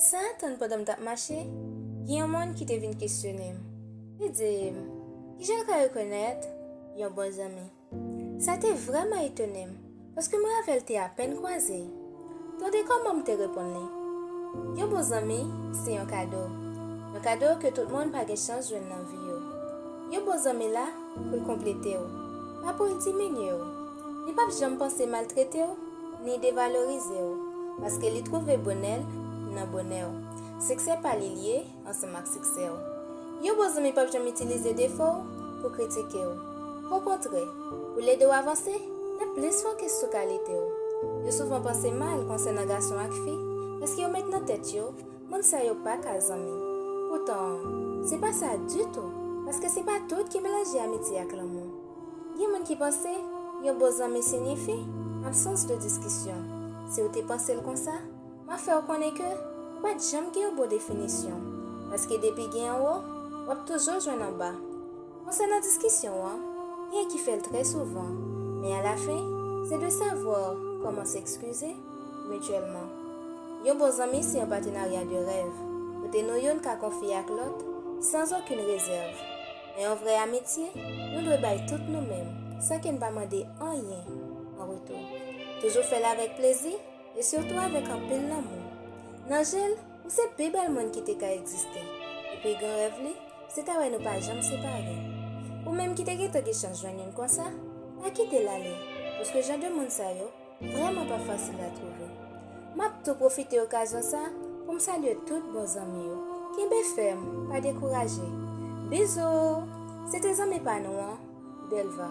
San atann pandan m t ap mache, gen yon moun ki te vin kesyone m. Li di m, Ki jan w ka rekonèt yon bon zanmi? Sa te vrèman etone m, paske mwen avè l te apèn kwaze. Tande kòman m te reponn li, Yon bon zanmi se yon kado, yon kado ke tout moun pa gen chans jwenn nan vi yo. Yon bon zanmi la pou l konplete w, pa pou l diminye w. Li pap janm panse maltrete w, ni devalorize w, paske li twouve bonè l nan bonè w. Siksè pa li l ye ansanm ak siksè w. Yon bon zanmi pap janm itilize defo w pou kritike w. Okontrè, pou l ede w avanse, l ap plis fokis sou kalite w. Yo souvan panse mal konsènan gason ak fi, paske yo met nan tèt yo moun sa yo pa ka zanmi. Poutan, se pa sa ditou, paske se pa tout ki melanje amitye ak lanmou. Gen moun ki panse, yon bon zanmi sinyifi, absans de diskisyon. Si w te panse l konsa, m ap fè w konnen ke, ou pa t janm gen yon bon definisyon. Paske depi gen anwo, w ap toujo jwenn anba. Konsènan diskisyon an, genyen ki fè l trè souvan, men alafen, se de savoir comment s'excuser mutuellement. Yon bon zanmi se yon patenarya de rèv, kote nou youn ka konfye ak lòt, sans aucune réserve. Nan yon vrè amitye, nou dwe bay tout nou menm, san ke n pa mande anyen an retou. Toujou fè l avèk plezi, e sitou avèk anpil lanmou. Nan je l, ou se pi bèl moun ki te ka egziste, e pi gran rèv li, se ta wè nou pa janm separe. Ou menm ki te gentan gen chans jwenn youn konsa, pa kite l ale, paske jan de moun sa yo, Vrèman pa fasil a twouve. M ap tou pwofite okazyon sa pou m salye tout bon zanmi yo. Kenbe fèm, pa dekouraje. Bizou! Se te zanmi pa nou an, Belva.